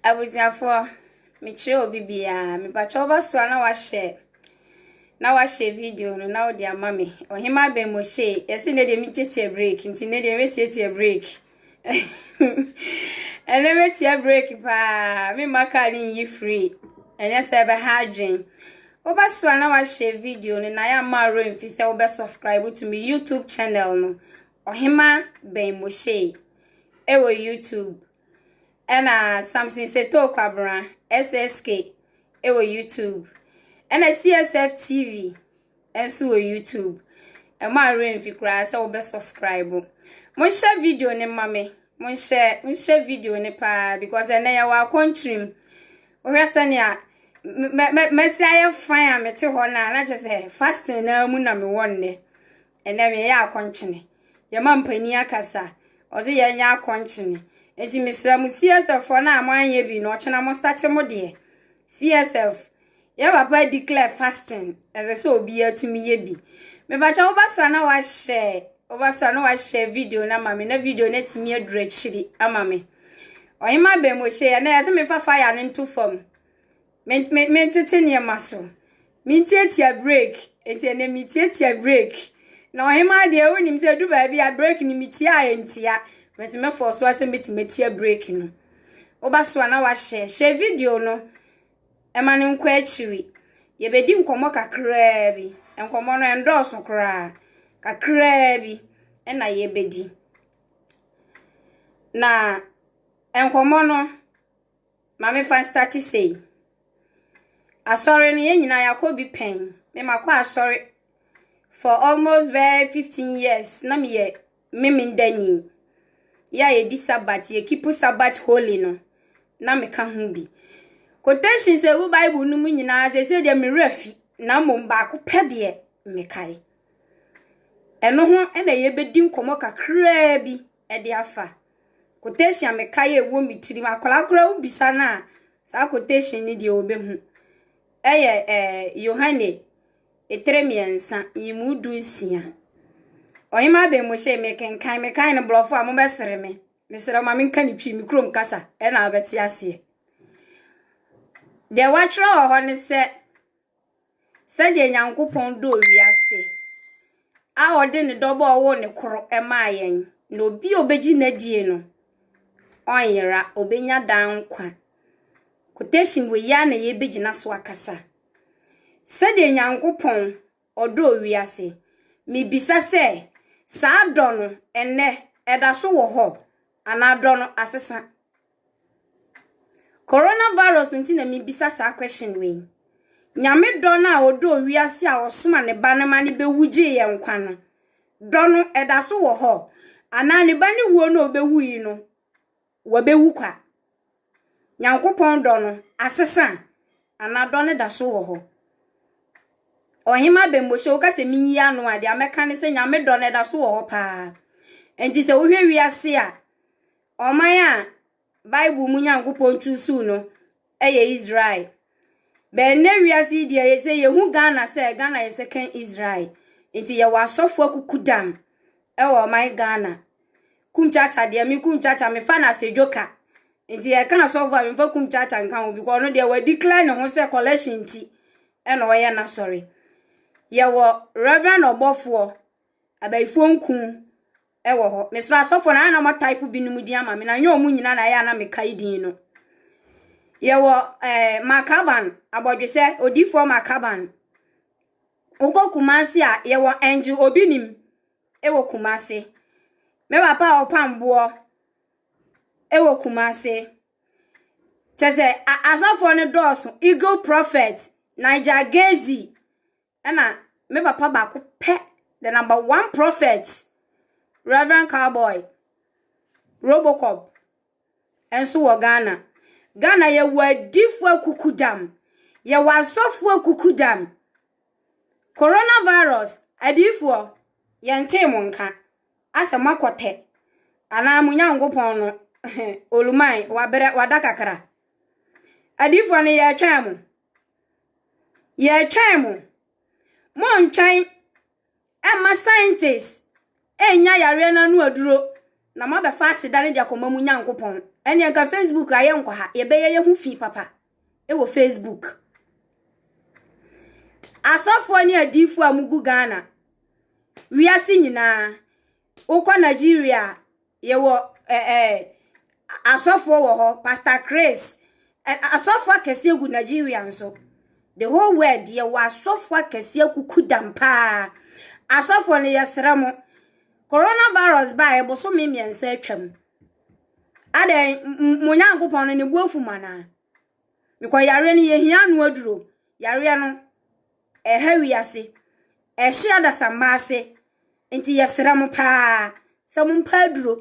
Abusuafoɔ, mekyerɛ obi biara, mepa kyɛw wobɛsoa na wahyɛ na wahyɛ video no na wode ama me. Ɔhema Abɛmohyei, yɛse nnɛ deɛ metiatia break nti nnɛ deɛ mɛtiatia break. Ɛnnɛ mɛtia break paa, memma kaa no nyi free, ɛnyɛ sɛ ɛbɛha adwen. Wobɛsoa na wahyɛ video no na yɛamma werɛ mfi sɛ wobɛ subscribe to me YouTube channel no, Ɔhema Bɛmohyei. wɔ YouTube. Ɛna Samson Setoo Kwabena, SSK, wɔ YouTube. Ɛna CSF TV nso wɔ YouTube. Ɛmo a werɛ mfi koraa sɛ wobɛ subscribe. Monhyɛ video ne ma me. Monhyɛ monhyɛ video ne paa because ɛnɛ yɛwɔ akɔntrim. Wohwɛ sɛnea mɛsi ayɛ fan a mete hɔ no a na kyerɛ sɛ fasting naa mu na mewɔ nnɛ. Ndɛ no yɛyɛ akɔnkyene, yɛma mpanin akasa, ɔdze yɛn nyɛ akɔnkyene. Ntsi mesrɛ mo CSF foɔ no a mo annyɛ bi no ɔkyena mo startse mo deɛ. CSF, yɛ papa declare fasting, ɛsɛ sɛ obiaa tumi yɛ bi. Mepakyɛ wo ba so a na wa share, wo ba so a na wa share video no ama me na video no atumi aduru akyiri ama me. Ɔhemaa Bɛmɔhyɛ yi a na yɛse memfa fire no nto fam. Me me metete nneɛma so. Mentiatia break. Enti ɛnɛ metiatia break. Na ɔhemaa deɛ wonim sɛ ɛdu baabi a break no metia a ɛntia. Bɛti mɛfɔɔ so asɛ mɛti mɛtia break no. Woba so a na wahyɛ. Hyɛ video no. Ɛma no nkɔ akyiri. Yɛbɛdi nkɔmmɔ kakraa bi. Nkɔmmɔ no ɛndɔɔso koraa. Kakraa bi ɛna yɛbɛdi. Na nkɔmmɔ no Ma me fa nstarte sei. Asɔre no yɛn nyinaa yɛ akɔ bi pɛn. Me ma kɔ asɔre for almost bɛyɛ fifteen years na me yɛ meme da ni. Yɛ a yɛ di sabat yɛ keep sabat holy no na me ka ho bi. Quotations a ɛwɔ bible no mu nyinaa sɛ sɛ deɛ me werɛ fi na mmom baako pɛ deɛ me kae. Ɛno ho na yɛ bɛ di nkɔmɔ kakraa bi. de afa. Quotation a mekae a ɛwɔ me tirim, akwadaa koraa wobisa no a, saa quotation no deɛ ɔbɛhu. Ɛyɛ eh, Yohane etere mmiɛnsa, nyimu du nsia. Ɔhema abɛn mu hyɛ mekenkan, mekan no borɔfo a mobɛsere me. Mesrɛ ma menka ne twi, me kurom kasa, ɛna wobɛte aseɛ. Deɛ wɔatwerɛ wɔ hɔ ne sɛ, Sɛdeɛ Nyankopɔn dɔɔ wiase a ɔde ne dɔba a ɔwoo no koro maa yɛn, na obi a ɔbɛgye no adie no, ɔnyera, ɔbɛnya daa nkwa. Quotation wei ara na yɛbɛgyina so akasa. Sɛdeɛ Nyankopɔn ɔdɔɔ wiase, mebisa sɛ, saa dɔ no, ɛnnɛ, ɛda so wɔ hɔ anaa dɔ no asesa? Corona virus ntsi na mibisa saa question wei. Nyame dɔ no a ɔdɔɔ wiase a ɔsomaa ne ba no ma no bɛwu gyee yɛn nkwa no, dɔ no ɛda so wɔ hɔ? Anaa ne ba no wuo no a ɔbɛwu yi no, wabɛwu kwa? Nyankopɔn dɔ no asesa anaa dɔ no da so wɔ hɔ? Ɔhema Abɛmmɔhyɛ, woka sɛ menyi ano a, deɛ mɛka ne sɛ Nyame dɔ no ɛda so wɔ hɔ paa. Nti sɛ wohwɛ wiase a, Ɔman a Bible mu Nyankopɔn tu suu no yɛ Israel. Bɛn nnɛ wiase yi deɛ yɛ sɛ yɛhu Ghana sɛ Ghana yɛ second Israel. Nti yɛwɔ asɔfoɔ akukudam wɔ ɔman Ghana. Kumchacha deɛ me Kumchacha mefa no asedwo ka. Nti yɛka asɔfoɔ a memfa Kumchacha nka ho because ɔno deɛ wadeclare ne ho sɛ collection nti ɛna ɔyɛ n'asɔre. Yɛwɔ Reverend ɔbɔfoɔ, abayifoɔ nku. wɔ hɔ. Mesrɛ asɔfoɔ no, ayɛ na wɔatype binom din ama me, na ɛnyɛ wɔn nyinaa na ɛyɛ a na mekae din no. Yɛwɔ eh, Makaban, abɔdwesɛ, odifoɔ Makaban. Wokɔ Kumase a, yɛwɔ Angel Obi Nim wɔ Kumase. Me papa a ɔpam boɔ wɔ Kumase. Kyɛ sɛ, a- asɔfoɔ no dɔɔso. Eagle Prophet, Niger Gazy, ɛna me papa baako pɛ the number one prophet reverend cowboy robocop nso wɔ ghana ghana yɛwɔ adifoɔ akukudam yɛwɔ asɔfoɔ akukudam coronavirus adifoɔ yɛntee mo nka asɛ moakɔtɛ anaa mo nyankopɔn no oluman wabrɛ wada kakra adifoɔ no yɛtwɛn mo Yɛretwɛn mo. Monntwɛn mma scientists nnya yareɛ no ano aduro na moabɛfa aseda no de akɔma mo Nyankopɔn. Ɛnneɛ nka Facebook a yɛnkɔ ha. Yɛbɛyɛ yɛn ho fi papa wɔ Facebook. Asɔfoɔ ne adiifoɔ a mogu Ghana, wiase nyinaa. Wokɔ Nigeria a, yɛwɔ ɛ ɛ asɔfoɔ wɔ hɔ, Pastor Chris. Ɛ asɔfoɔ akɛseɛ gu Nigeria nso. The whole world yɛwɔ asɔfoɔ akɛseɛ kuku dam paa. Asɔfoɔ no yɛsrɛ mo. Coronavirus baa yɛ bosome mmiɛnsa atwam. Adɛn m- mo Nyankopɔn no ne bu afu mo anaa? Because yareɛ no yɛhia ano aduro. Yareɛ no ɛha wiase. Ɛhye adasamma ase. Nti yɛsrɛ mo paa sɛ mompa aduro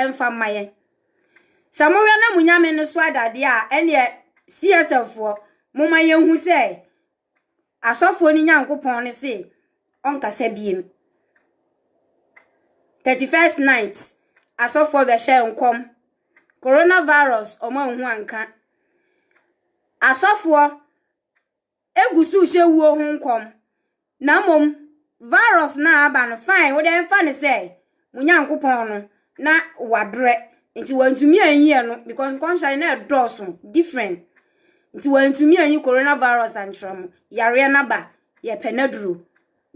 mfa mma yɛn. Sɛ mohwɛ na mo nyame no so ada adeɛ a, ɛneɛ CSFfoɔ, moma yɛnhu sɛ asɔfoɔ no Nyankopɔn no se ɔnkasa biem. 31st night, asɔfoɔ bɛhyɛ nkɔm. Coronavirus, ɔmo anhu anka. Asɔfoɔ egu so rehyɛ wuo ho nkɔm, na mmom virus no a aba no, fine, wo deɛ mfa no sɛ mo Nyankopɔn no na wabrɛ, nti wantumi anyi ɛno, because nkɔmhyɛ no na ɛdɔɔso, different. Nti wantumi anyi coronavirus ankyerɛ mo, yareɛ no aba, yɛpɛ n'aduro.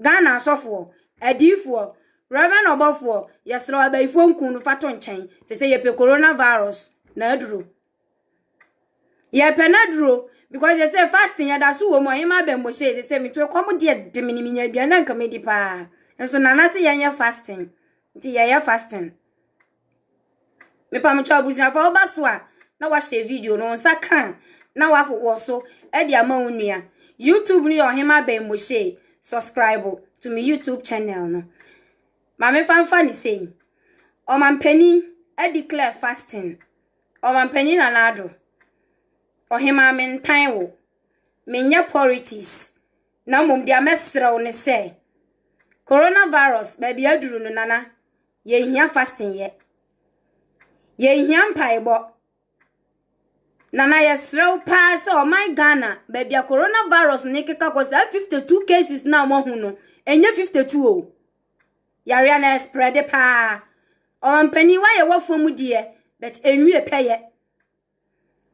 Ghana asɔfoɔ, adiifoɔ, Reverend ɔbɔfoɔ, yɛsrɛ wo abayifoɔ nku no fa to nkyɛn, sɛ sɛ yɛpɛ coronavirus n'aduro. Yɛrepɛ no adur o, because dze sɛ fasting yɛda so wɔ mu a, ɔnye m'abamu hyia yi dze sɛ metu kɔm dze de me no menya eduan a nka medi paa. Nso Nana se yɛnyɛ fasting, ntsi yɛyɛ fasting. Mepa mo kyɛw abusuafo a woba so a na wɔahyɛ video no, wo nsa ka a na wɔawɔ so de ama wo nua. YouTube no yɛ Ɔhema Abamu Hyia yi, subscribe to me YouTube channel no. Ma me fanfa ne sei. Ɔmanpanin declare fasting. Ɔmampanyin Nana Addo, ɔhemaa mentan wo, menyɛ porities na mmom deɛ mɛsrɛ wo ne sɛ corona virus baabi aduru no Nana yɛhia fasting yɛ. Yɛhia mpaebɔ. Nana yɛsrɛ wo paa sɛ ɔman Ghana baabi a corona virus no rekeka kɔ saa 52 cases no a wɔahu no, ɛnyɛ 52 o. Yareɛ no ɛsprɛde paa. Ɔmampanin wayɛ wafo mu deɛ, but ɛnwie pɛyɛ.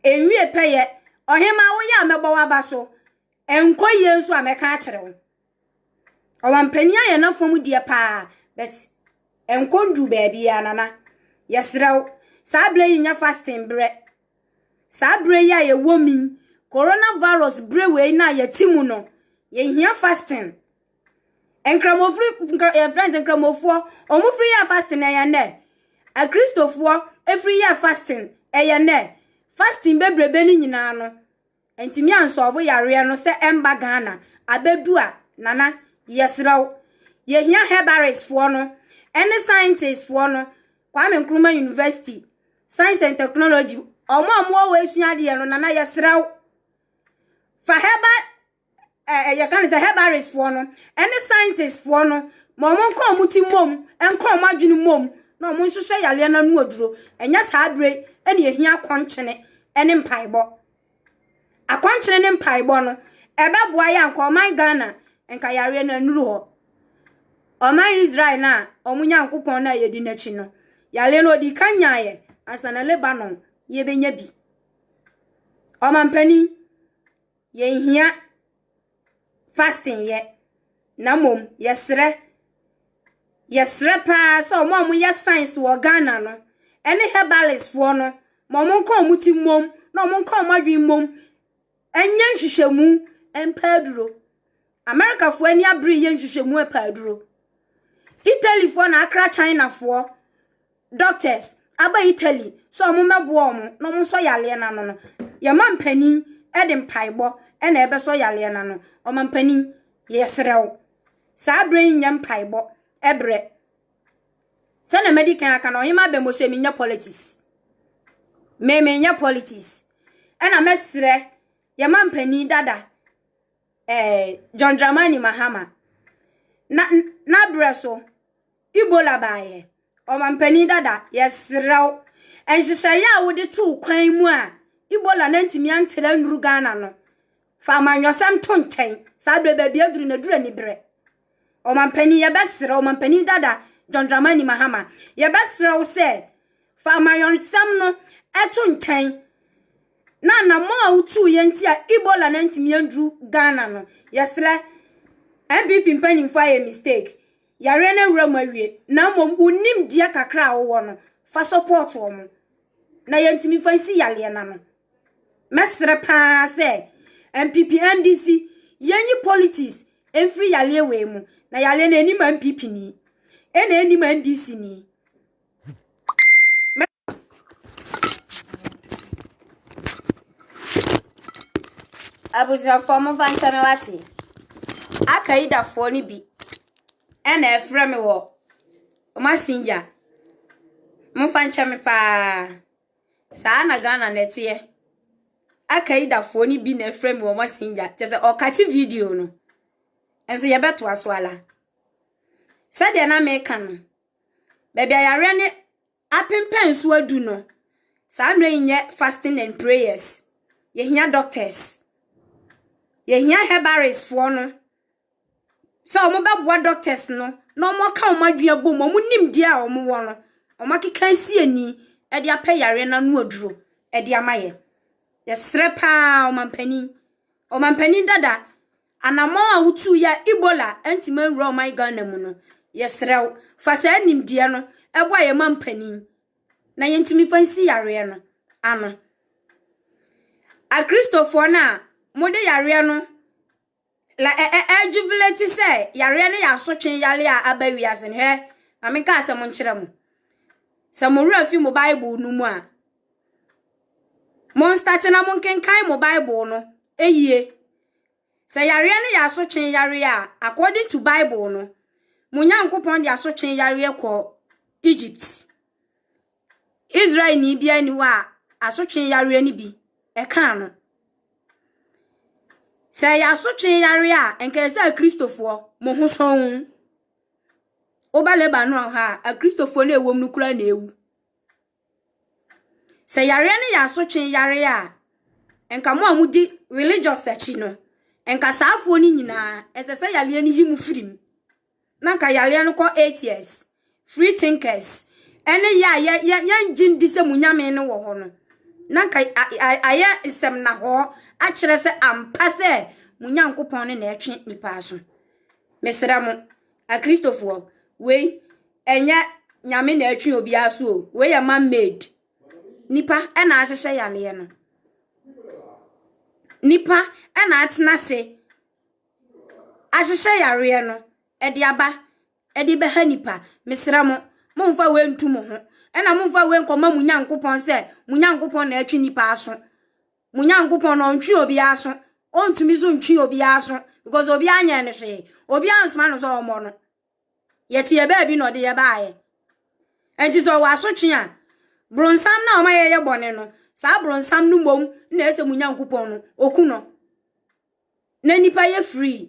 Ɛnwie pɛyɛ. Ɔhema woyɛ a mɛbɔ waba so. Ɛnkɔ yie nso a mɛka akyerɛ wo. Ɔmampanin ayɛ n'afo mu deɛ paa, but ɛnkɔ nduru baabiara nana. Yɛsrɛ wo, saa berɛ yi nyɛ fasting berɛ. Saa berɛ yi a yɛwɔ mu yi, coronavirus berɛ wei no a yɛte mu no, yɛhia fasting. Nkramofri nkra yɛfrɛ no sɛ Nkramofoɔ. Wɔfiri yɛ fasting ɛyɛ nnɛ. Akristofoɔ firi yɛ fasting ɛyɛ nnɛ. Fasting bebrebe no nyinaa no, ɛntumi ansɔlvo yareɛ no sɛ ɛmba Ghana. Abɛdu a, Nana, yɛsrɛ wo, yɛhia herbalistfoɔ no ɛne scientistfoɔ no, Kwame Nkrumah University, Science and Technology, wɔn a wɔwɔ hɔ sua adeɛ no, Nana, yɛsrɛ wo, fa herbal ɛ, yɛka no sɛ herbalistfoɔ no ne scientistfoɔ no ma wɔn nka wɔn ti mmom, nka wɔn adwene mmom na wɔn nhwehwɛ yareɛ no ano aduro. Ɛnyɛ saa bere ɛna ehia akɔnkyene ne mpaebɔ. Akɔnkyene ne mpaebɔ no, ɛbɛboa yɛ anka ɔman Ghana nka yareɛ no anuru hɔ. Ɔman Israel no a wɔn Nyankopɔn no a yɛdi n'akyi no, yareɛ no ɔdi kan nyaeɛ ansa na Lebanon yɛbɛnya bi. Ɔmampanin. Yɛnhia fasting yɛ, na mmom yɛsrɛ. Yɛsrɛ paa sɛ wɔn a wɔyɛ science wɔ Ghana no, ɛne herbalistfoɔ no, ma wɔn nka wɔn ti mmom, na wɔn nka wɔn adwene mmom, ɛnyɛ nhwehwɛmu mpɛ aduro. Amerikafoɔ ani abere yɛ nhwehwɛmu mpɛ aduro. Italyfoɔ na akra Chinafoɔ. doctors aba Italy sɛ ɔmo mɛboa ɔmo na ɔmo nsɔ yareɛ no ano no, yɛma mpanin de mpaebɔ na ɛbɛsɔ yareɛ no ano. Ɔmampanin, yɛsrɛ wo, saa berɛ yi nyɛ mpaebɔ berɛ. Sɛnea madi kan aka no, Ɔhema Abɛmo sɛ menyɛ politics. Me menyɛ politics. Ɛna mɛsrɛ yɛma mpanin dada eh, John Dramani Mahama na n'abrɛ so Ebola baeɛ. Ɔmampanin dada, yɛsrɛ wo, nhyehyɛeɛ a wode too kwan mu a Ebola no antumi antere annuru Ghana no, fa amanyɔsɛm to nkyɛn. Saa berɛ baabi aduru no, aduru aniberɛ. Ɔmampanin, yɛbɛsrɛ wo, ɔmampanin dada John Dramani Mahama, yɛbɛsrɛ wo sɛ fa amanyɔsɛm no to nkyɛn na anammɔn a wotuu yɛn nti a Ebola no antumi anduru Ghana no, yɛsrɛ NPP mpanimfoɔ ayɛ mistake. yareɛ no awura mu awie na mmom wo nimdeɛ kakra a wowɔ no fa support wɔn na yɛntumi mfa nsi yareɛ no ano mɛsrɛ paa sɛ npp ndc yɛnyi politics mfiri yareɛ wei mu na yareɛ no anim npp ni ɛna anim ndc ni Abusuafoɔ momfa nkyɛ me wate. Al-Qaedafoɔ no bi na ɛrefrɛ me wɔ massengya. Momfa nkyɛ me pa ara. Saa ara na Ghana no teɛ. Al-Qaedafoɔ no bi na ɛrefrɛ me wɔ massengya. Kyerɛ sɛ ɔkate video no. Nso yɛbɛtoa so ara. Sɛdeɛ na mereka no, baabi a yareɛ no Apempɛn so adu no saa mmerɛ yi nyɛ fasting and prayers yɛhia doctors yɛhia herbalist foɔ no sɛ wɔn bɛboa doctors no na wɔn aka wɔn adwene abɔ mu wɔn nimdeɛ a wɔn wɔ no wɔn akeka si ani ɛde apɛ yareɛ no ano aduro ɛde ama yɛ yɛsrɛ paa ɔmampanin ɔmampanin dada Anammɔn a wotuui a Ebola antumi anwura ɔman Ghana mu no, yɛsrɛ wo, fa saa nimdeɛ no boa yɛn mampanin na yɛntumi mfa nsi yareɛ no ano. Akristofoɔ no a mode yareɛ no la ɛ ɛ ɛjubilate sɛ yareɛ no yɛ asotwe yareɛ a aba wiase no hwɛ ma menka asɛm nkyerɛ mo. Sɛ mo werɛ fi mo Bible no mu a, monstate na monkenkan mo Bible no yie. Sɛ yareɛ no yɛ asotwee yareɛ a, according to Bible no, mo Nyankopɔn de asotwee yareɛ kɔ Egypt. Israel ni biara ni hɔ a asotwee yareɛ no bi ɛkaa no. Sɛ ɛyɛ asotwee yareɛ a, nka ɛsɛ akristofoɔ mo ho sɔn. Woba Lebanon ha a, akristofoɔ no ɛwom no koraa na ewu. Sɛ yareɛ no yɛ asotwe yareɛ a, nka mo a mo di religious akyi no, nka saafoɔ no nyinaa, ɛsɛ sɛ yareɛ no yi mo firi mu. Na nka yareɛ no kɔ eight years. Free thinkers, ɛne yɛ a yɛ yɛ yɛngye ndi sɛ mo nyame no wɔ hɔ no. Na nka ayɛ nsɛm na hɔ akyerɛ sɛ ampa sɛ mo nyankopɔn no na ɛtwe nipa aso. Mesrɛ mo, Akristofoɔ, wei ɛnyɛ nyame na ɛtwe obiara so o, wei yɛ man made. Nipa ɛna ahyehyɛ yareɛ no. Nipa ɛna atena ase ahyehyɛ yareɛ no ɛde aba ɛde bɛha nipa. Mesrɛ mo, momfa wei ntu mo ho. Ɛna momfa wei nkɔma mo Nyankopɔn sɛ mo Nyankopɔn na ɛtwe nipa aso. Mo Nyankopɔn no, ɔntwe obiara aso. Ɔntumi so ntwe obiara aso because obiara nyɛɛ no hwee. Obiara nsoma no sɛ ɔmmɔ no. Yɛte yɛ baabi na ɔde yɛ baeɛ. Nti sɛ ɔwɔ asotwe a, bronsam na ɔma yɛyɛ bɔne no, saa bronsam no mmom na ɛsɛ mo Nyankopɔn no, ɔku no. Na nnipa yɛ free.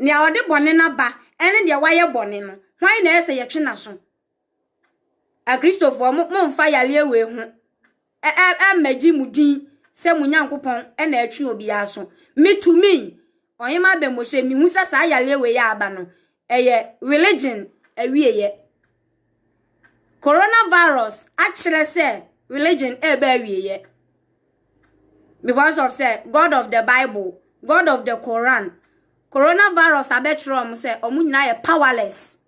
Nea ɔde bɔne no aba ne deɛ wayɛ bɔne no, hwan na ɛyɛ sɛ yɛtwe n'aso? Akristofoɔ, momfa yareɛ wei ho ɛmmɛgye mo din sɛ mo Nyankopɔn na ɛtwe obiara aso. Metumi, ɔhema abɛmmɔhyɛ, mehu sɛ saa yareɛ wei a aba no, ɛyɛ religion awieɛ. Coronavirus akyerɛ sɛ religion ɛreba awieɛ because of sɛ God of the Bible, God of the Quran. Coronavirus abɛkyerɛ wɔn sɛ wɔn nyinaa yɛ powerless.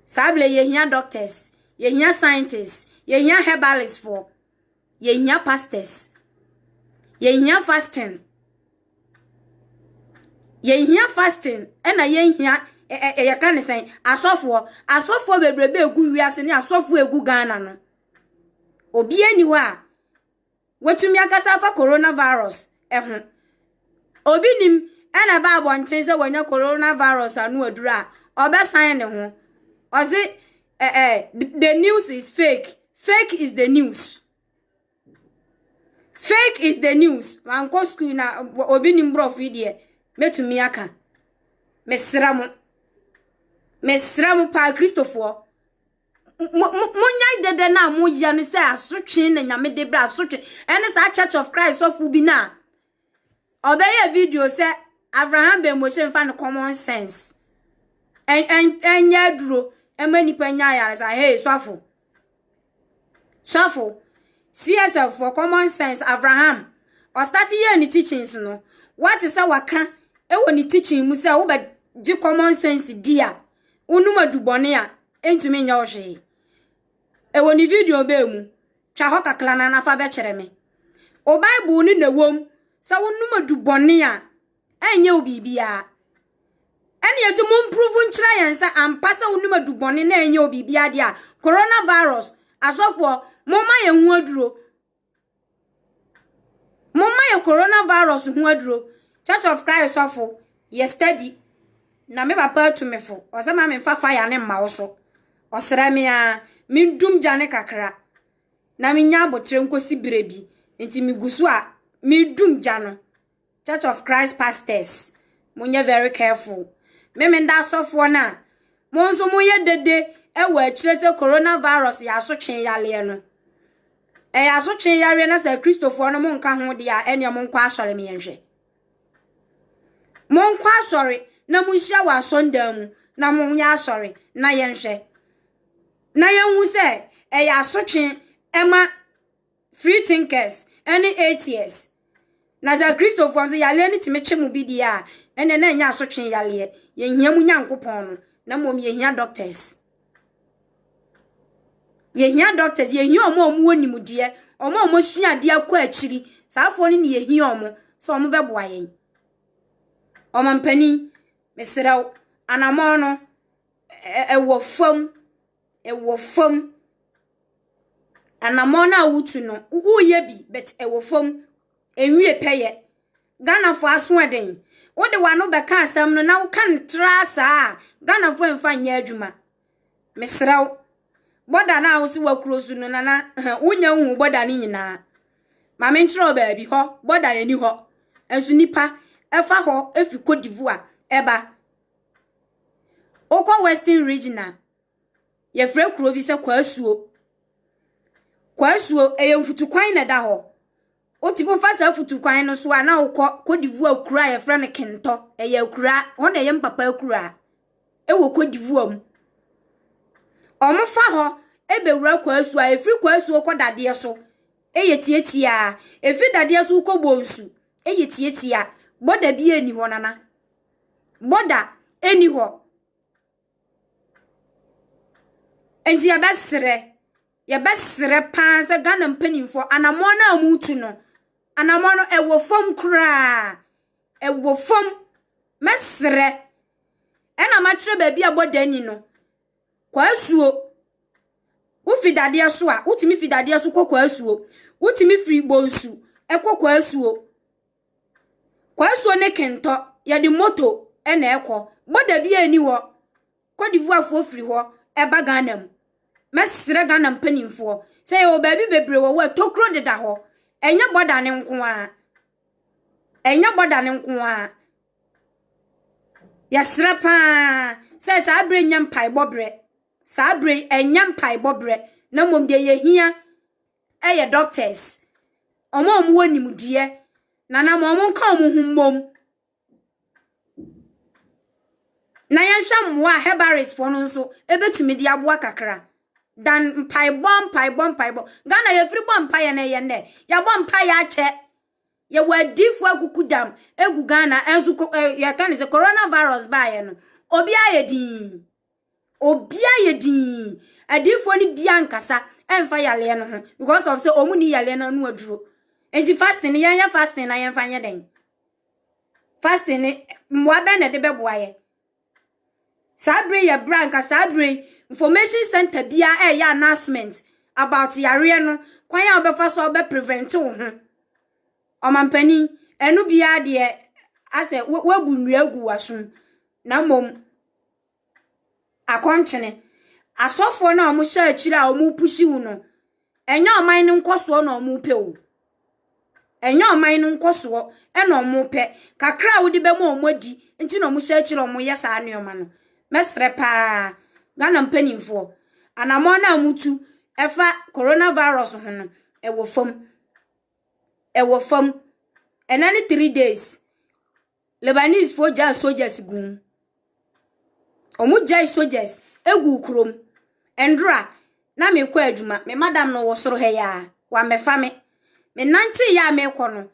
Saa berɛ yɛhia doctors, yɛhia scientists, yɛhia herbalistfoɔ, yɛhia pastors, yɛhia fasting. Yɛnhia fasting na yɛnhia ɛ ɛ ɛ yɛka ne sɛn asɔfoɔ. Asɔfoɔ bebrebe a ɛgu wiase ne asɔfoɔ a ɛgu Ghana no, obiara nni hɔ a watumi akasa afa corona virus ho. Obi nim ɛna ɛba abɔnten sɛ wanya corona virus ano aduru a, ɔbɛsan ne ho. Ɔse ɛ ɛ the news is fake. Fake is the news. Fake is the news. Mankɔ sukuu na obi nim borɔfo yi deɛ mɛtumi aka. Mesrɛ mo. Mesrɛ mo paa Kristofoɔ. Monyae dɛdɛ no a moyɛ no sɛ asotwe na nyame de brɛ asotwe. Ɛne saa Church of Christ sɔfo bi no a Ɔbɛyɛ video sɛ Avraham Bɛnmose mfa no common sense. Ɛnyɛ aduro ɛma nipa nya ayaresa. Hey sɔfo. Sɔfo. CSF for common sense Avraham. Ɔstati yɛ ne teachings no. Wate sɛ waka ɛwɔ ne teaching mu sɛ wobɛgye common sense di a wonum adubɔne a ɛntumi nyɛ wo hwee. Ɛwɔ ne video bɛɛ mu. Twa hɔ kakra na na fa bɛkyerɛ me. Wo Bible no na ɛwom sɛ wonom adubɔne a, ɛnyɛ wo biribiara. Ɛne ɛsɛ mo mprove nkyerɛ yɛn sɛ ampa sɛ wonom adubɔne na ɛnyɛ wo biribiara deɛ a, coronavirus, asɔfoɔ, momma yɛn ho aduro. Momma yɛ coronavirus ho aduro. Church of Christ sɔfo, yɛ steady. Na me papa atumifo, ɔsɛ ma memfa fire ne mma wo so. Ɔsrɛ me ara, mendum gya no kakra na menya aboterɛ nkɔsi berɛ bi. Nti megu so a medum gya no. Church of Christ pastors, monyɛ very careful. Me menda asɔfoɔ no a, mo nso moyɛ dede wɔ akyire sɛ coronavirus yɛ asotwee yareɛ no. Ɛyɛ asotwee yareɛ na sɛ Akristofoɔ no monka ho deɛ a, ɛnneɛ monkɔ asɔre meɛnhwɛ. Monkɔ asɔre na monhyia wɔ asɔndan mu na monyɛ asɔre na yɛnhwɛ. Na yɛnhu sɛ ɛyɛ asotwe ɛma free thinkers ɛne atheists. Na sɛ Kristofoɔ nso yareɛ no tumi kye mo bi deɛ a, ɛnna na ɛnyɛ asotwe yareɛ. Yɛnhia mu Nyankopɔn no, na mmom yɛhia doctors. Yehia doctors, yehia wɔn a wɔwɔ nimdeɛ, wɔn a wɔasua adeɛ akɔ akyiri. Saafoɔ no na yehia wɔn sɛ wɔbɛboa yɛn. Ɔmampanin, mesrɛ wo, anamɔn no, ɛ ɛwɔ fam. Ɛwɔ fam. Anamɔn no a woretu no, woreyɛ bi, but ɛwɔ fam. Ɛnwie pɛyɛ. Ghanafoɔ asoɔden. Wode w'ano bɛka asɛm no na woka no traa saa a, Ghanafoɔ remfa nyɛ adwuma. Mesrɛ wo. Bɔda no a wose wakuro so no, Nana, wonya wohu bɔda no nyinaa. Ma menkyerɛ wo baabi hɔ, bɔda no ani hɔ. Nso nipa ɛfa hɔ ɛfi Cote d'Ivoire ɛba. Wokɔ Western Region a, yɛfrɛ kuro bi sɛ Kwaasuo. Kwaasuo, ɛyɛ mfutukwan na ɛda hɔ. Wote wo fa saa afutu kwan no so a na wokɔ Cote d'Ivoire kura a yɛfrɛ no Kentɔ. Ɛyɛ akura, hɔ na ɛyɛ mpapa akura ɛwɔ Cote d'Ivoire mu. Wɔn fa hɔ ɛbɛwura kwaasuo a ɛfiri kwaasuo kɔ dadeɛ so ɛyɛ tiatia. Ɛfiri dadeɛ so kɔ bonsu ɛyɛ tiatia. Bɔda bi ɛni hɔ nana. Bɔda ɛni hɔ. Nti yɛbɛserɛ. Yɛbɛsrɛ paa sɛ Ghana mpanimfoɔ anammɔn no a wɔretu no, anammɔn no ɛwɔ fam koraa. Ɛwɔ fam. Mɛsrɛ. Ɛna makyerɛ baabi a bɔda ni no. Kwaasuo. Wofi dadeɛ so a, wotumi fi dadeɛ so kɔ kwaasuo. Wotumi firi bonsu ɛkɔ kwaasuo. Kwaasuo ne kentɔ, yɛde moto ɛna ɛkɔ. Bɔda bi ani hɔ. Cote d'Ivoirefoɔ firi hɔ ba Ghana mu. Mɛsrɛ Ghana mpanimfoɔ sɛ yɛwɔ baabi bebree wɔ hɔ a tokuro deda hɔ. Ɛnyɛ bɔda no nko ara. Ɛnyɛ bɔda no nko ara. Yɛsrɛ paa sɛ saa berɛ nyɛ mpaebɔ berɛ. Saa berɛ yi ɛnyɛ mpaebɔ berɛ na mmom deɛ yɛhia yɛ doctors, wɔn a wɔwɔ nimdeɛ na na wɔn nka wɔn ho mmom. Na yɛnhwɛ mmoa a herbarisfoɔ no nso bɛtumi de aboa kakra dan mpaebɔ mpaebɔ mpaebɔ. Ghana yɛfiri bɔ mpaeɛ no ɛyɛ nnɛ. Yɛabɔ mpaeɛ akyɛ. Yɛwɔ adiifoɔ akuku dam gu Ghana nso ko ɛ yɛka no sɛ coronavirus baeɛ no obiara yɛ dinn. Obia yɛ dinn. Adiifoɔ no bia nkasa ɛnfa yaleɛ no ho because of sɛ ɔmo ni yaleɛ no ano aduro. Nti fasting no yɛnyɛ fasting na yɛnfa nyɛ dɛn? Fasting no mmoa bɛn na ɛde bɛboa yɛ? Saa bere yɛ bere a nka saa bere yi information center bia ɛyɛ announcement about yareɛ no kwan a wobɛfa so a wobɛ prevent wo ho. Ɔmampanin ɛno bia deɛ asɛ wabu nnua agu w'asom na mmom akɔnkyene. Asɔfoɔ no a wɔhyɛ akyire a wɔrepuhyi wo no, ɛnyɛ ɔman no nkɔsoɔ na wɔpɛ o. Ɛnyɛ ɔman no nkɔsoɔ na wɔpɛ. Kakra a wode bɛma wɔn adi nti na wɔhyɛ akyire a wɔyɛ saa nneɛma no. Mɛsrɛ pa ara, Ghana mpanimfoɔ, anammɔn no a motu fa Corona virus ho no, ɛwɔ fam. Ɛwɔ fam. Ɛnnɛ ne three days. Lebanesefoɔ gyaa soldiers gu mu. Wɔgyae soldiers gu kurom. Nnora, na merekɔ adwuma. Me madam no wɔ soro ha yi ara. Wammɛfa me. Menanteeɛ a merekɔ no,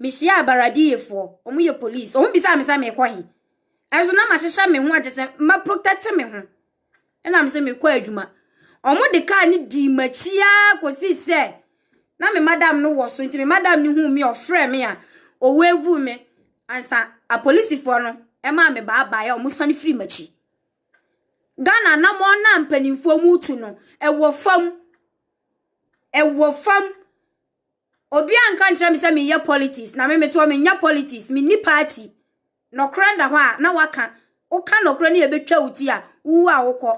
mehyiaa Baradiyefoɔ. Wɔyɛ police. Wɔbisaa me sɛ merekɔ he. Nanso na mahyehyɛ me ho a kyerɛ sɛ maprotɛte me ho. Ɛna me sɛ mekɔ adwuma. Ɔmo de kaa no dii m'akyi ara kɔsi sɛ na me madam no wɔ so nti me madam no hu me ɔfrɛ me a owevu me ansa apolisifoɔ no ɛmaa me baabaaeɛ a ɔmo sane firi m'akyi. Ghana anammɔn no a mpanimfoɔ mu tu no ɛwɔ fam. Ɛwɔ fam. Obiara nka nkyerɛ me sɛ menyɛ politics, na me metoɔ menyɛ politics, menni party. Nɔkorɛ da hɔ a, na waka. Woka nɔkorɛ ne yɛbɛtwa wo ti a, wowu a wokɔ.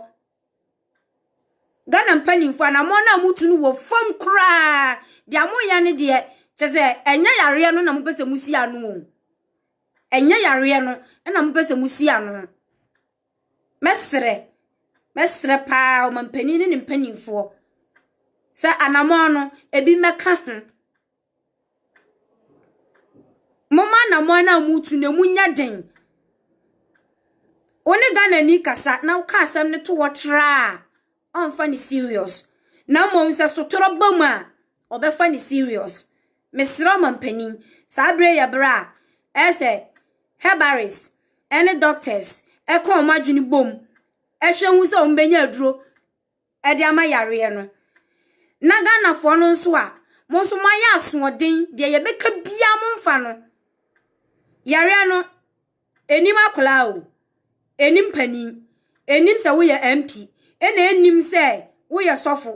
Ghana mpanimfoɔ, anammɔn no a motu no wɔ fam koraa. Deɛ moyɛ no deɛ, kyɛ sɛ ɛnyɛ yareɛ no na mopɛ sɛ mosi ano o. Ɛnyɛ yareɛ no na mopɛ sɛ mosi ano. Mɛsrɛ, mɛsrɛ pa ara ɔmampanin ne ne mpanimfoɔ sɛ anammɔn no, ebi mmɛka ho. Momma anammɔn no a moretu no, emu nyɛ den. Wo ne Ghanani kasa na woka asɛm no to hɔ tra a, ɔmfa no serious na mmom sɛ sotorɔ ba mu a ɔbɛfa no serious. Mesrɛ ɔmampanin, saa berɛ yi yɛ berɛ a ɛyɛ sɛ herbarists ne doctors ka wɔn adwene bom hwɛ hu sɛ wɔbɛnya aduro de ama yareɛ no. Na Ghanafoɔ no nso a, mo nso moayɛ asoɔden deɛ yɛbɛka biara momfa no. Yareɛ no, Ɛnnim akwadaa o, ɛnnim panin, ɛnnim sɛ woyɛ MP, ɛna ɛnnim sɛ woyɛ sɔfo.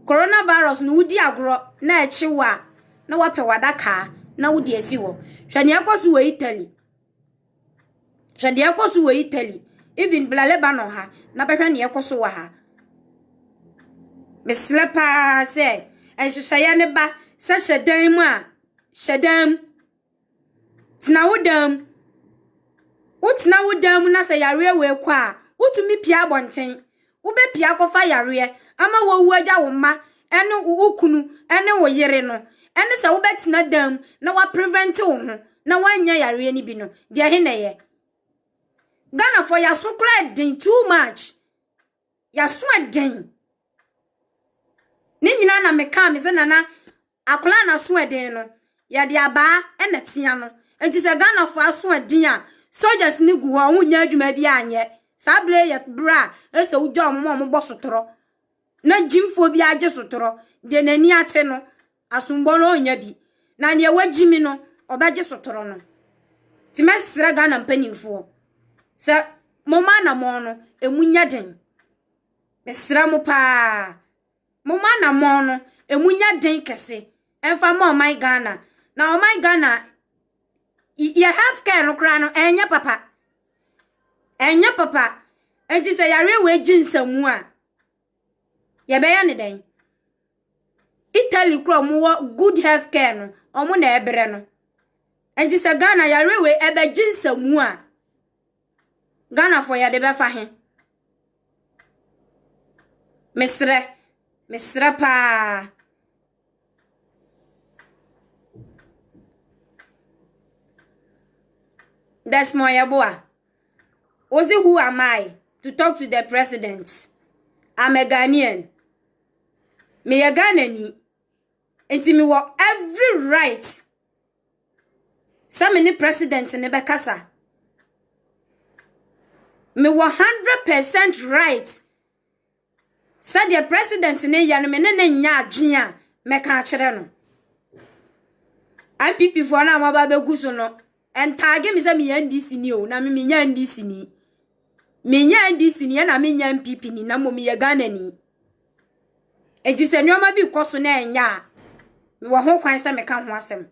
Coronavirus no wodi agorɔ na ɛkye wo a na wapɛ wadakaa na wode asi hɔ. Hwɛ deɛ ɛkɔ so wɔ Italy. Hwɛ deɛ ɛkɔ so wɔ Italy. Even bla Lebanon ha na bɛhwɛ deɛ ɛkɔ so wɔ ha. Mesrɛ paa sɛ nhyehyɛeɛ ne ba sɛ hyɛ dan mu a hyɛ dan mu. Tena wo dan mu. Wotena wo dan mu na sɛ yareɛ wei kɔ a, wotumi pia abɔnten. Wobɛpia akɔfa yareɛ ama woawu agya wo mma ne wo kunu ne wo yere no. Ɛne sɛ wobɛtena dan mu na waprevente wo ho na woanya yareɛ no bi no, deɛ he na ɛyɛ? Ghanafoɔ yɛaso koraa den too much. Yɛaso den. Ne nyinaa na mekaa me sɛ nana Akwadaa no asoɔden no, yɛde abaa na ɛtea no. Nti sɛ Ghanafoɔ asoɔden a, soldiers no gu hɔ, wɔnnya adwuma biara nyɛ. Saa berɛ yi yɛ berɛ a ɛsɛ sɛ wogya wɔn a wɔbɔ sotorɔ na gyimfoɔ bi agye sotorɔ. Deɛ n'ani ate no, asombɔ no ɔnnya bi. Na deɛ wagyimi no, ɔbɛgye sotorɔ no. Nti mɛsrɛ Ghana mpanimfoɔ sɛ momma anamɔn no, ɛmu nyɛ den. Mesrɛ mo paa. Mo mo anammɔn no, ɛmu nyɛ den kɛse ɛmfa ma ɔman Ghana. Na ɔman Ghana, yɛ health care no koraa no, ɛnyɛ papa. Ɛnyɛ papa. Nti sɛ yareɛ wei gye nsamu a, yɛbɛyɛ ne dɛn? Italy kora ɔmo wɔ good health care no, ɔmo na ɛbrɛ no. Nti sɛ Ghana yareɛ wei ɛbɛgye nsamu a, Ghanafoɔ yɛde bɛfa he? Mesrɛ, mesrɛ paa. Desmond Yeboa, Ozi, who am I to talk to the president? I'm a Ghanaian. Meyɛ Ghanani. Nti mewɔ every right sɛ me ne president no bɛkasa. Mewɔ hundred percent right sɛdeɛ president no yɛ no me ne ne nyɛ adwene a mɛka akyerɛ no. NPP foɔ no a wɔaba bɛgu so no ntaage me sɛ meyɛ NDC ni o na me menyɛ NDC ni. Menyɛ NDC ni na menyɛ NPP ni na mmom meyɛ Ghana ni. Enti sɛ nneɛma bi kɔ so na ɛnyɛ a, mewɔ ho kwan sɛ meka ho asɛm.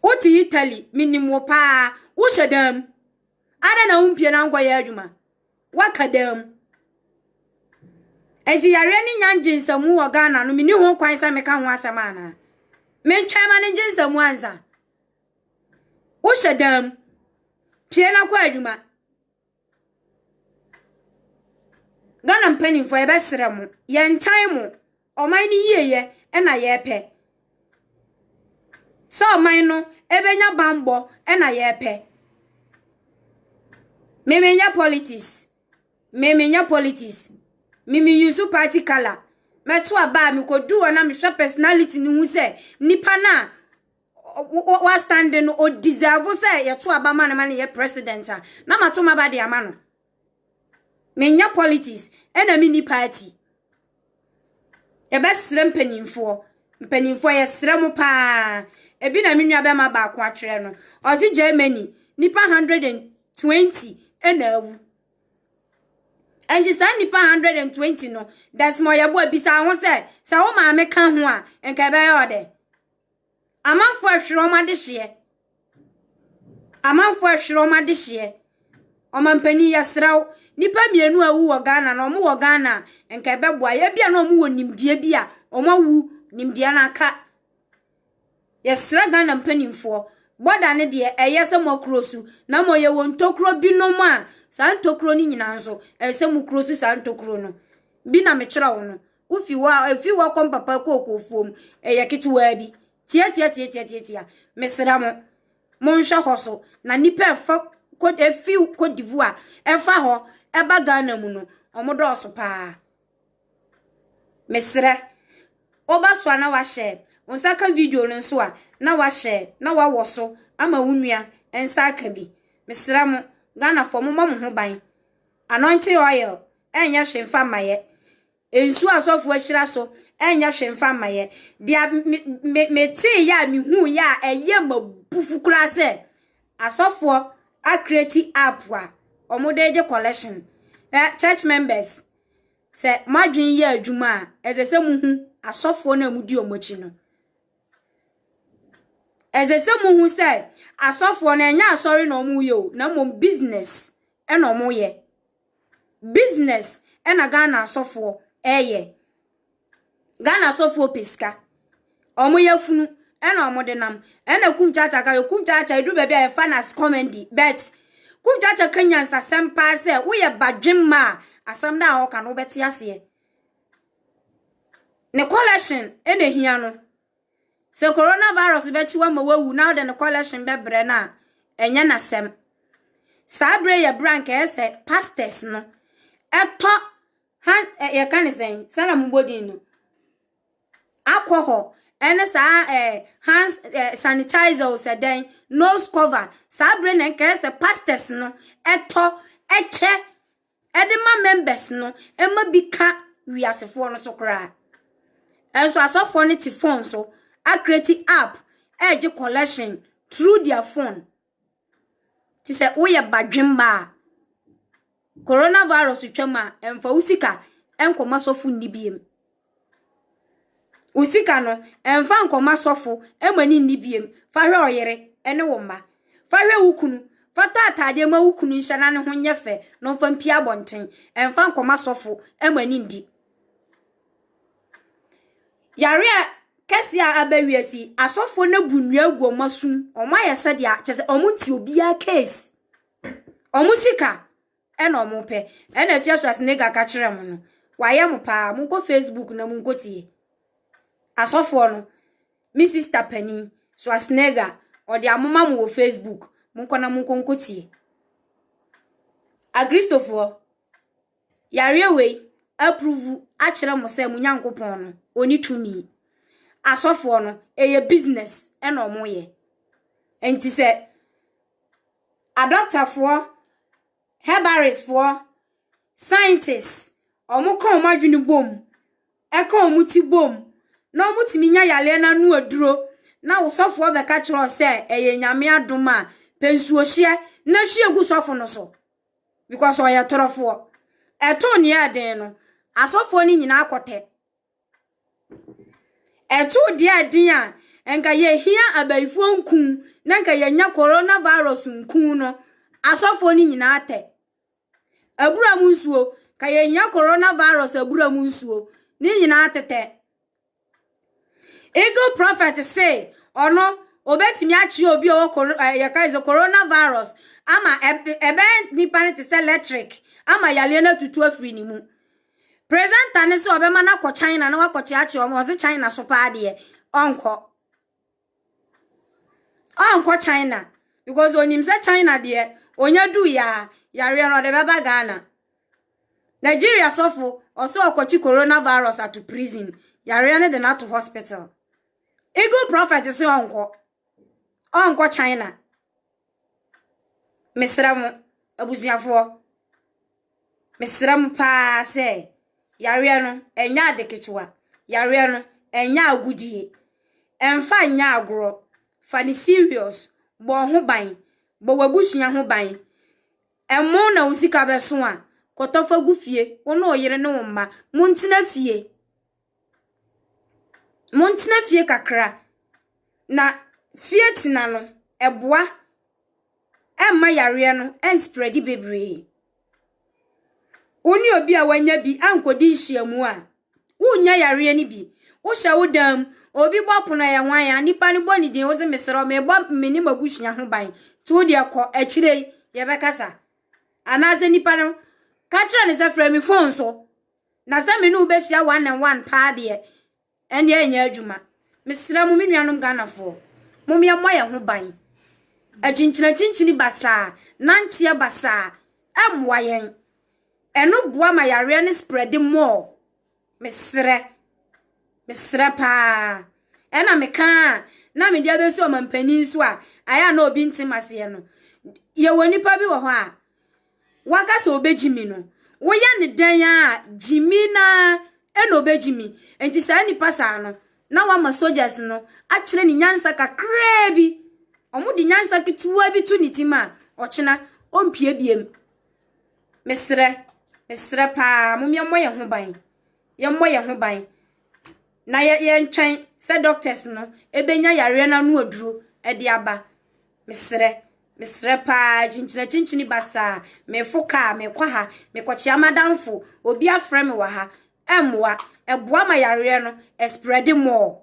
Wote Italy, menim wo paa. Wohyɛ dan mu. Adɛn na wompie na wonkɔyɛ adwuma? Woaka dan mu. Enti yareɛ ne nya ngye nsamu wɔ Ghana no, menni ho kwan sɛ meka ho asɛm anaa? Mentwɛn ma no ngye nsamu ansa. Wohyɛ dan mu. Pie na kɔ adwuma. Ghana mpaninfoɔ yɛbɛ serɛ mo yɛ ntan mo ɔman no yie yɛ ɛna yɛ pɛ sɛ ɔman no ɛbɛ nya banbɔ ɛna yɛ pɛ mimi nyɛ politics mimi nyɛ politics mimi use party colour mɛto aba a mekɔ du hɔ na mehwɛ personality no ho sɛ nipa naa. wastande no o deserve sɛ yɛto aba ma no ma no yɛ president a na mato maba de ama no menyɛ politics ɛna menni party yɛbɛsrɛ mpanimfoɔ mpanimfoɔ yɛsrɛ mo paa ebi na me nua bɛma baako atwerɛ no ɔse germany nipa 120 ɛna awu ɛnti saa nipa 120 no desmɔ yɛboa bisa ho sɛ sɛ wo maame ka ho a nka ɛbɛyɛ ɔdɛ Amanfoɔ ɛhwere wɔn adehyeɛ. Amanfoɔ ɛhwere wɔn adehyeɛ. Ɔmampanin yɛsrɛ wo, nnipa mmienu a awu wɔ Ghana na wɔn wɔ Ghana a, nka ɛbɛboa yɛ. Ebia na wɔn wɔ nimdeɛ bi a wɔn awu, nimdeɛ no aka. Yɛsrɛ Ghana mpanimfoɔ, bɔda no deɛ ɛyɛ sɛ mo akuro so, na mmom yɛwɔ ntokuro binom a saa ntokuro no nyinaa nso ɛyɛ sɛ mo kuro so saa ntokuro no. Bi na mekyerɛ wo no. Wofi hɔ a, efi hɔ kɔ mpapa kookofoɔ mu. Ɛyɛ ketewaa bi. Tiatiatiatiatiatia. Mesrɛ mo, monhwɛ hɔ so. Na nnipa a ɛfa Côte efi Côte d'Ivoire ɛfa hɔ ɛba Ghana mu no, wɔn dɔɔso paa. Mesrɛ, woba so a na wahyɛ, wo nsa ka video no nso a na wahyɛ na wawɔ so ama wo nua nsa aka bi. Mesrɛ mo, Ghanafoɔ mommɔ mo ho ban. Anointing oil. ɛnyɛ hwee mfa mma yɛ. Nsuo a asɔfoɔ ahyira so, ɛnyɛ hwee mfa mma yɛ. Deɛ me me metee yɛ a mehuu yɛ a ɛyɛ ma bufu koraa sɛ asɔfoɔ akreti app a wɔde gye collection. Ɛ church members sɛ moadwene yɛ adwuma a ɛsɛ sɛ muhu asɔfoɔ no a mudi wɔn akyi no. Ɛsɛ sɛ muhu sɛ asɔfoɔ no ɛnyɛ asɔre na wɔyɛ o na mmom business ɛna wɔyɛ. Business na Ghana asɔfoɔ ɛyɛ. Ghana asɔfoɔ pɛ sika. Ɔmo yɛ funu ɛna ɔmo de nam. Ɛna kum kyakya ka yɛ kum kyakya edu baabi a yɛfa no as comedy but kum kyakya ka nyansasɛm paa sɛ woyɛ badwemma a asɛm no a ɔka no wobɛte aseɛ. Ne collection ɛna ehia no. Sɛ coronavirus bɛkye wo ama woawu na wode no collection bɛbrɛ no a, ɛnyɛ n'asɛm. Saa berɛ yɛ berɛ a nka ɛyɛ sɛ pastors no ɛtɔ han ɛ yɛka ne sɛn sɛ na mobɔ din no alcohol ɛne saa ɛ hands ɛ sanitizer o sɛ dɛn nose cover saa berɛ na nka ɛyɛ sɛ pastors no ɛtɔ ɛkyɛ de ma members no ma bi ka wiasefoɔ no so koraa. Nso asɔfoɔ no te phone so akreati app regye collection through their phone. Te sɛ woyɛ badwemma a, coronavirus twam a, mfa wo sika nkɔma sɔfo nni biem. Wo sika no, mfa nkɔma asɔfo mma ɔne nni bio. Fa hwɛ wo yere ne wo mma. Fa hwɛ wo kunu. Fa tɔ ataadeɛ ma wo kunu nhyɛ na ne ho nyɛ fɛ na ɔmfa mpue abɔnten. Mfa nkɔma asɔfo mma ɔne nni. Yare a kɛseɛ a aba wiase yi, asɔfoɔ no abu nnua agu wɔn asom. Wɔayɛ sɛdeɛ kyerɛ sɛ wɔnte obiara case. Wɔn sika, Ɛna ɔmo pɛ. Ɛna Afia Schwarzenegger ka kyerɛɛ mo no. Wayɛ mo paa. Monkɔ Facebook na monkɔ tie. Asɔfoɔ no, me sister panin, Schwarzenegger, ɔde amoma mo wɔ Facebook. Monkɔ na monkɔ nkɔ tie. Akristofoɔ, yareɛ wei apruvu akyerɛ mo sɛ mo Nyankopɔn no, ɔni tumi. Asɔfoɔ no, ɛyɛ business ɛna ɔmo yɛ. Ɛnti sɛ Adɔktafoɔ, herbalistfoɔ, scientists, wɔka wɔn adwene bom, ɛka wɔn ti bom, na wɔtumi nya yareɛ no ano aduro, na wo sɔfoɔ bɛka kyerɛ wo sɛ ɛyɛ Nyame adom a, pɛ nsuohyeɛ na hwie gu sɔfo no so. Because ɔyɛ torofoɔ. Ɛtoo nea ɛyɛ den no, asɔfoɔ no nyinaa kɔtɛ. Ɛtoo deɛ a den a, anka yɛhia abayifoɔ nku na anka yɛanya corona virus nku no, asɔfoɔ no nyinaa tɛ. Abura mu nsuo, anka yɛhia corona virus abura mu nsuo, ne nyinaa tetɛ. Eagle prophet se ɔno obetumi akyerɛ obi a ɔwɔ coro ɛɛ yɛka sɛ corona virus ama ɛb ɛbɛyɛ nipa no te sɛ electric ama yareɛ no atutu afiri ne mu. Presenter no sɛ ɔbɛma no akɔ China na wakɔkyeakyea ɔmo ɔse China so paa deɛ ɔnkɔ. Ɔnkɔ China because onim sɛ China deɛ onya du yaa yareɛ no ɔde bɛba Ghana. Nigeria sɔfo ɔsɛ ɔkɔkye coronavirus ato prison yareɛ no de no ato hospital. Eagle prophet sɛ ɔnkɔ. Ɔnkɔ China. Mesrɛ mo, abusuafoɔ, mesrɛ mo pa ara sɛ, yareɛ no, ɛnyɛ ade ketewa. Yareɛ no, ɛnyɛ agodie. Mfa nyɛ agorɔ. Fa no serious. Bɔ wo ho ban. Bɔ w'abusua ho ban. Ɛmo na wo sika bɛso a, kɔtɔ fa gu fie. Wo ne wo yere ne wo mma, montena fie. Montena fie kakra, na fie tena no, ɛboa. Ɛmma yareɛ no ɛnsprɛde bebree. Wo ne obi a wanya bi ankɔdi nhyiamu a, wonnya yareɛ no bi. Wohyɛ wo dan mu, obi bɔ pono a, ɛyɛ hwan a, nnipa no bɔ ne din, wo se mesrɛ wo, mebɔ me ne m'abusua ho ban nti wo deɛ kɔ, akyire yi yɛbɛkasa. Anaasɛ nnipa no, ka kyerɛ no sɛ frɛ me fon so. Na sɛ me ne wo bɛhyia one and one paa deɛ, ɛnneɛ ɛnyɛ adwuma. Mesrɛ mo, me nuanom Ghanafoɔ, mom yɛmmɔ yɛn ho ban. Akyinkyinakyinkyini basaa, nanteɛ basaa, ɛmmoa yɛn. Ɛno boa ma yareɛ no spreadi more. Mesrɛ. Mesrɛ paa. Ɛna meka a, na mede abɛsi ɔmampanin so a, ayɛ a na obi ntem aseɛ no. Yɛwɔ nipa bi wɔ hɔ a, Waka sɛ obegye mi no, woyɛ ne dɛn a gyimi naa ɛna obegye mi. Enti saa nipa saa no, na wama soldiers no akyerɛ ne nyansa kakraa bi. Ɔmo de nyansa ketewa bi to ne tim a, ɔkyena, ɔmpie biem. Mesrɛ, mesrɛ paa, mom yɛmmɔ yɛn ho ban. Yɛmmɔ yɛn ho ban. Na yɛ, yɛntwɛn sɛ doctors no ebenya yareɛ no ano aduro ɛde aba. Mesrɛ, mesrɛ paa, akyinkyinakyinkyini basaa, mefo kaa, mekɔ ha, mekɔkyea m'adamfo, obi afrɛ me wɔ ha, ɛmmoa. Ɛboa ma yareɛ no, ɛsprɛde mɔɔ.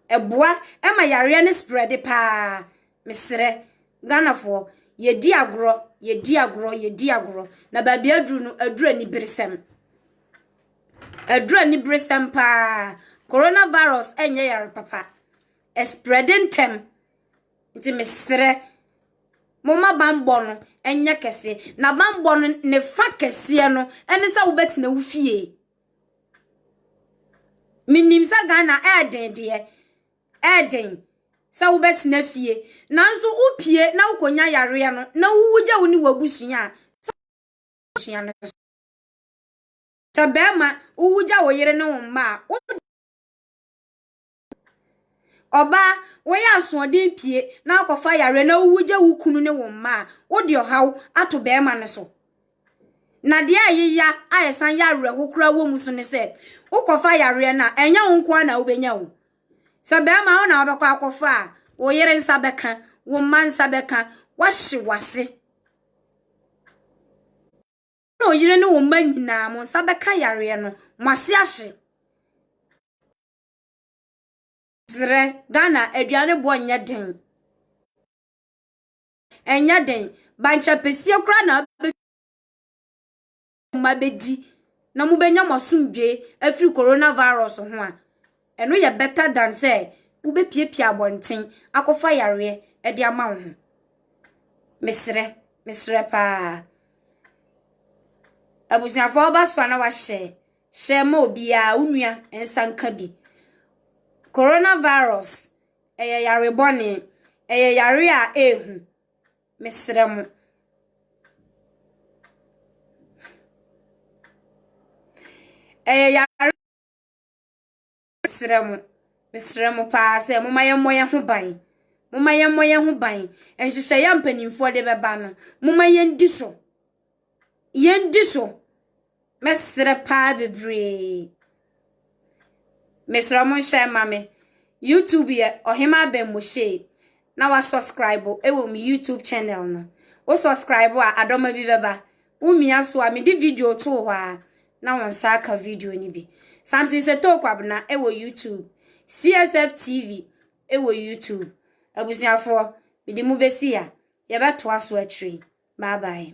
Ɛboa ma yareɛ no sprɛde paa. Mesrɛ, Ghanafoɔ, yɛdi agorɔ, yɛdi agorɔ, yɛdi agorɔ, na baabi aduru no, aduru aniberesɛm. Aduru aniberesɛm paa. Coronavirus ɛnyɛ yare papa. ɛsprɛde ntɛm. Nti mesrɛ, momma bammɔ no nyɛ kɛse. Na bammɔ no ne fa kɛseɛ no ne sɛ wobɛtena wo fie. Menim sɛ Ghana ɛɛden deɛ, ɛɛden sɛ wobɛtena fie. Nanso wopue na wokɔnya yareɛ no na wowu gya wo ne w'abusua a, sɛ abusua no so. Sɛ bɛrima, wowu gya wo yere ne wo mma a, wo Ɔbaa, woyɛ asoɔden pue na akɔfa yareɛ na wogya wo kunu ne wo mma a, wode ɔhaw ato barima no so. Na deɛ a ɛyɛ ya a ɛsan yɛ awerɛho koraa wɔ mu so ne sɛ, wokɔfa yareɛ no a, ɛnyɛ wo nko ara na wobɛnya o. Sɛ barima wo na wobɛkɔ akɔfa a, wo yere nsa bɛka, wo mma nsa bɛka, woahye w'ase. Na wo yere ne wo mma nyinaa, mo nsa bɛka yareɛ no, mo ase ahye. Serɛ, Ghana aduane boɔ nyɛ den. Ɛnyɛ den. Bankye apɛsie koraa na wobɛ mma bɛdi na mobɛnya mo asomdwe afiri corona virus ho a, ɛno yɛ better than sɛ wobɛpiapia abɔnten akɔfa yareɛ ɛde ama wo ho. Meserɛ, meserɛ paa. Abusuafoɔ woba so a na wahyɛ. Hyɛ ma obiara, wo nua nsa nka bi. Coronavirus, ɛyɛ yare bɔne. Ɛyɛ yare a ɛrehu. Mesrɛ mo. Ɛyɛ yare. Mesrɛ mo, mesrɛ mo paa sɛ momma yɛmmɔ yɛn ho ban. Momma yɛmmɔ yɛn ho ban. Nhyehyɛeɛ a mpanimfoɔ de bɛba no, momma yɛndi so. Yɛndi so. Mɛsrɛ paa bebree. Mesrɛ mo nhyɛ ma me. YouTube yɛ Ɔhema Aben Moshei. na wa subscribe wɔ me YouTube channel no. Wo subscribe a adɔma bi bɛba. Wo mia so a mede video too hɔ a na wo nsa aka video no bi. Samson Sotoo Kwabena wɔ YouTube. CSF TV wɔ YouTube. Abusuafoɔ, mede mu bɛsi ha. Yɛbɛtoa so akyire. Bye bye.